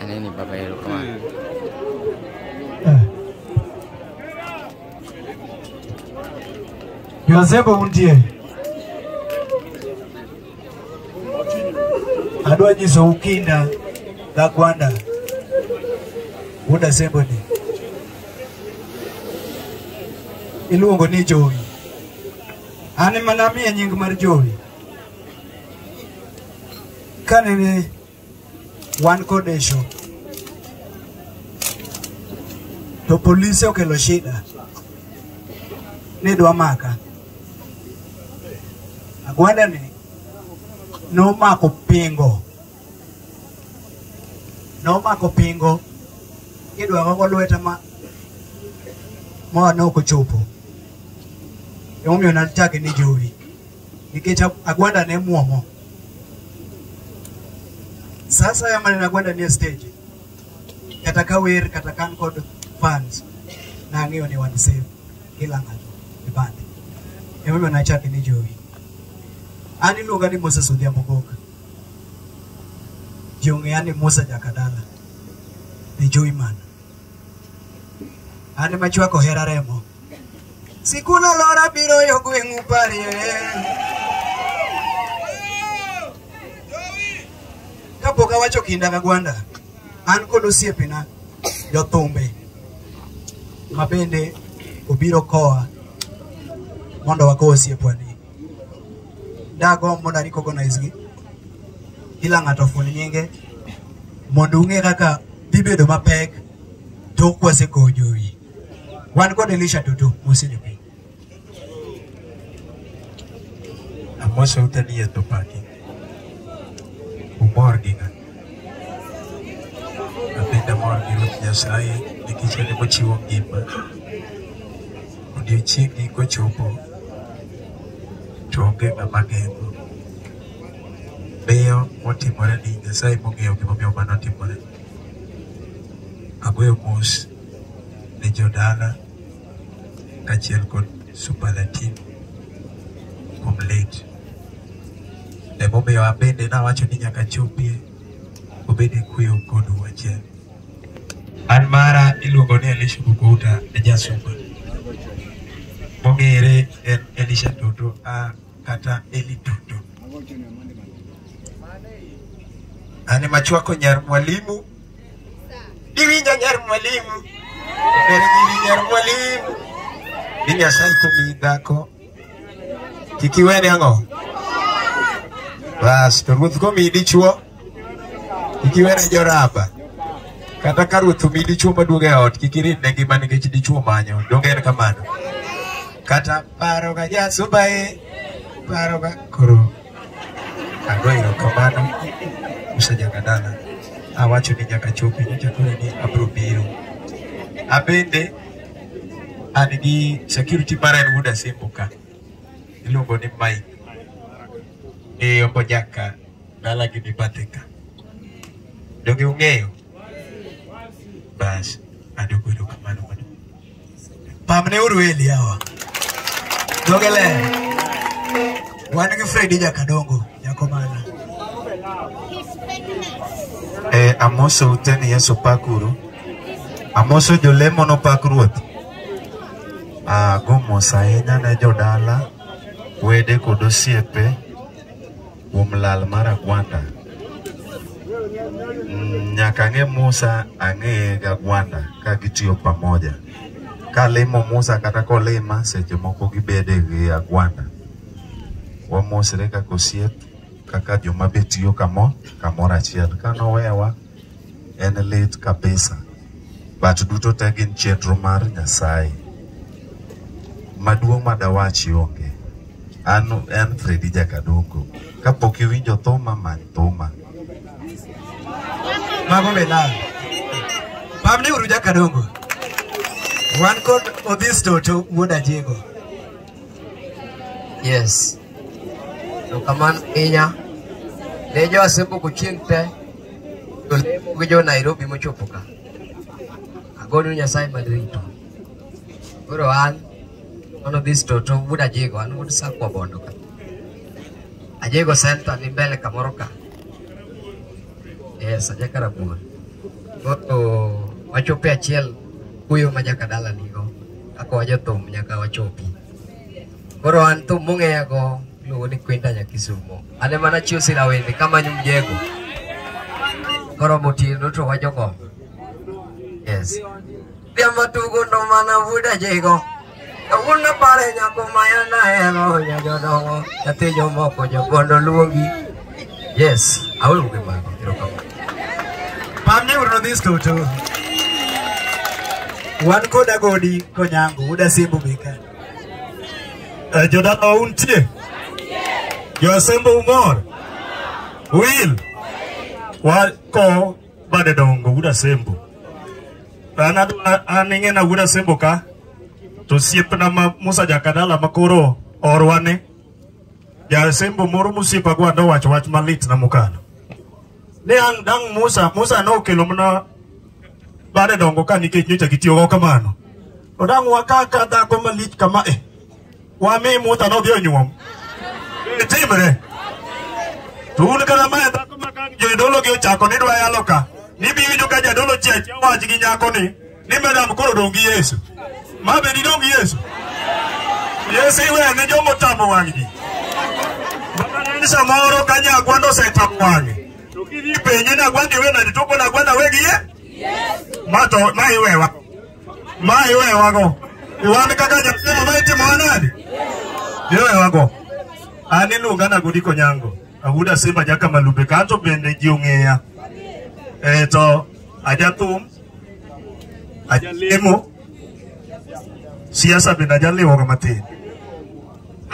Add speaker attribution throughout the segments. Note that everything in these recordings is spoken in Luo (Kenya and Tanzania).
Speaker 1: Aneni baba yero kama. Josebo untie. Adwa nyiso ukinda ga gwanda. Wuda sembo ni. Iluongo ni Jowi. An ema namiye nying mar Jowi. Kane ne Wan kod issue. To polise okelo shida. Ne dwa maka. Agwanda ni nomako pingo. Nomako pingo. Kidwa gogo lweta ma ma ne ok ochopo. Emomiyo nachake ni jowi. nikech Agwanda ne muomo. Sasa ya maneno Agwanda ni stage kata ka wer kata kan kod fans na ang'eyo ni wan save kila ng'ato e bande emomiyo nachake ni jowi an iluonga ni Moses Odhiambo Goka ji ong'eya ni Musa Jakadala the joy man An ema chwako hera remo. Sikul alora biro yo gweng'u parie. Kapok awacho kinda ga gwanda, an kod osiepena jothumbe ma bende obiro koa mondo wakow osiepwani. dagomb mondo arecognize gi kila ng'ato ofund nyinge mondo ung'e kaka dhibedo mapek tok kwasekowo jowi wan kod elisha toto mosejo piny
Speaker 2: Amose utanie to paki. Umor gi ng'a? Abende amor gi Ruoth Nyasaye nikech en ema ochiwo ngima. Odiechiengni kochopo to onge ng'ama geng'o. Miyo motimore ni Nyasaye mong'eyo gimomiyo mano otimore. Agoyo mos ne jodala kachiel kod superlative kuom late. Emomiyo abende nawacho ni nyaka chopie obede kuyo kod wachiel. An mara iluongo ni Elisha Bukouta e jasumba. Mong'ere en Elisha Toto a kata Eli Toto. An ema chwako nyar mwalimu Iwinjo nyar mwalimu. Ber nyiri nyar mwalimu. Ni Nyasaye komiyi dhako. Kik iwene ang'o? Bas, to ruoth komiyi dichuo. Kik iwene joraba. Kata ka ruoth omiyi dichuo maduong' e ot, kik irit ne ngima nikech dichuo manyo. Donge en kamano? Kata paro ga jasubae. Paro ga koro. Ago erokamano usejaga dala. Awacho ni nyaka chopi nyocha koro ni abiro biro. Abende an gi security mara en wuod Asembo ka. Iluongo ni Mike. Ee ombo jaka dala gi ni bathe ka. Donge ung'eyo? Bas, adoko erokamano. Pamne uru Eli hawa. Dhoge ler. Wan gi Fredi Jakadongo, Jakomana. Eh, amoso ute ni Yesu pakuru. Amoso jolemo nopak ruoth. Ah, go mos ahinya ne jodala, wede kod osiepe. kuom lal mar agwanda Mm, nyaka ang'e Musa ang'eye gi agwanda ka gitiyo pamoja kalimo Musa kata kolima seche moko gibede gi agwanda wamosre kaka osiep kaka joma be tiyo kamo kamoro achiel ka nowewa en lit kabisa but duto te gin chenro mar nyasaye maduong' madawachi onge an en fredi jakadongo kapok iwinjo thuma many thuma
Speaker 3: mago be lal pamni uru jakadongo
Speaker 1: wan kod odhisto to wuod ajego
Speaker 4: Yes. To kamano ahinya ne jo Asembuku chieng' te to lemo gi jo Nairobi mochopo ka. Agodo Nyasaye man rito. Koro an one of these toto wuod Ajego, an wuod Sakwa Bondo ka. Ajego Center ni mbele kamoro ka. Yes, Ajaka Rabuor. Koro wachope achiel kuyo ma jaka dala nigo. Ako jothum nyaka wachopi. Koro an thum mong'eya go iluongo ni Kwinda Nyakisumo. An ema nachiwo sira wende kamanyo mjego. Koro motindo to wajogo. Yes. Diambo tugo ndo mana vuda jego. Kawuono pare nyako maya nahero nyajodongo. Nyathi jomoko jogondo luongi. Yes, aweyo gi mago. Erokamano. Pamne
Speaker 1: uru nodhis duto. Wan kod agodi konyango, uda simbu bika. Eh, Jodala
Speaker 3: untie? Josembo umor? Will? Wako bade dongo uda sembo. An adwa- an ing'ena uda sembo ka. To siepna ma Musa Jakadala makoro orwane. Jasembo moro mosiepa gwa nowacho wach malit na mokalo. Ne ang' dang' Musa, Musa nokelo mana bade dongo ka nikech nyocha gitiyogo kamano. To dang' wakaka dhako malich kama e. Wami Musa nodhi onyuom. E timre. To un kata mae dhako ma kang' jodolo gi ochako ni dwa yalo ka. Nibi winjo ka jadolo chiachiya wach gi nyako ni. ni madam koro dong' gi Yesu. Ma be didong' gi Yesu? Yesu iwe ne jomo tamo wang' ji. Mama ni samoro ka nyagwa nosetamo wang'e. To kidhi penje ni agwanda iwe nade to kona agwanda we gi ye? Ma to ma iwewa. Ma iwewa go. Iwan kaka jatelo ma itimo nade? Iwewa go. An iluonga na Godiko Nyango. Awuda Simba Jaka Malube kanto bende ji ong'eya. Eh to ajathum, ajalemo, siasa bende ajaliwoga matin.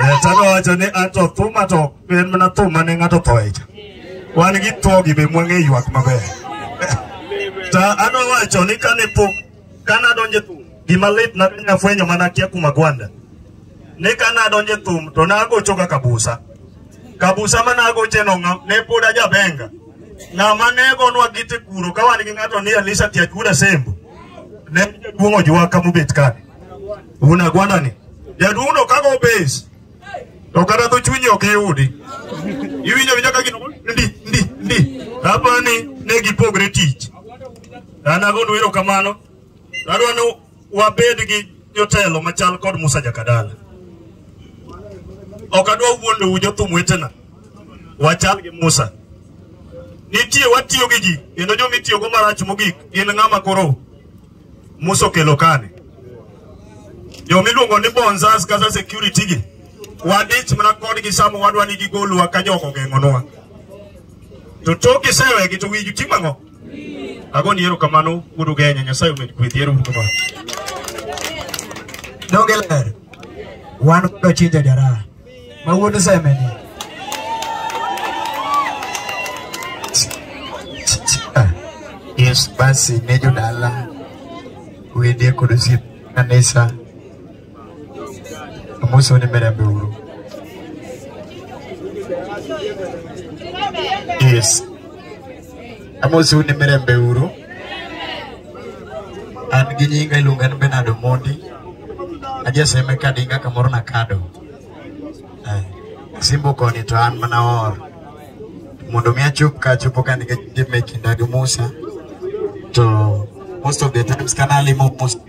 Speaker 3: Eh, Tano wacho ni ato thuma to ok en mana thum mane ng'ato thoe cha. Wan gi thogi be mwang'e ywak maber. Ta ano wacho ni kane pok Ka nadonjo e thum, gima lit na ne afwenyo mana akia kuom Agwanda. Ne ka nadonjo e thum to nagocho ga Kabusa. Kabusa ma nagoche no ng'a- ne pod ajabenga. Ng'ama ne gonwa gite kuro ka wan gi ng'ato ni Elisha Tiachura Sembo. Ne jaduong' ojuwa ka mobet ka. Un Agwanda ni. Jaduong' no kago base. To kata dho chunyi ok iyudi. Iwinjo winjo ka gino ndi ndi ndi. Apani ne gipogre tich. An agonu erokamano. To adwa ni wabed gi jotelo machal kod Musa Jakadala. Ok adwa wuondou jothum wetena. Wachal gi Musa. Nitie watiyo gi ji kendo joma itiyogo marach mogik gin ng'ama koro Musa okelo kani. Joma iluongo ni bonzas kata security gi wadich mana kodgi sama wadwa ni gigolwa ka jogo ogeng'onwa. To tok isewegi to wigi timo ang'o? Agoni erokamano wuod Ugenya, Nyasaye omed gwedhi. Ero uru kamano.
Speaker 1: Donge ler? Wan kod Ochinja Jaraha ma wuod Semeni.
Speaker 2: Yes, basi ne jodala wende kod osiep kanisa umunsi wo n'imirembe buru yes amosi un imirembe uru an gi nyinga iluonga ni benard omondi ajeseme kadinga kamoro nakado Eh, simbo koni to an mana or mondo mi achop ka achopo ka nikech dime kinda gi musa to most of the times kana limo musa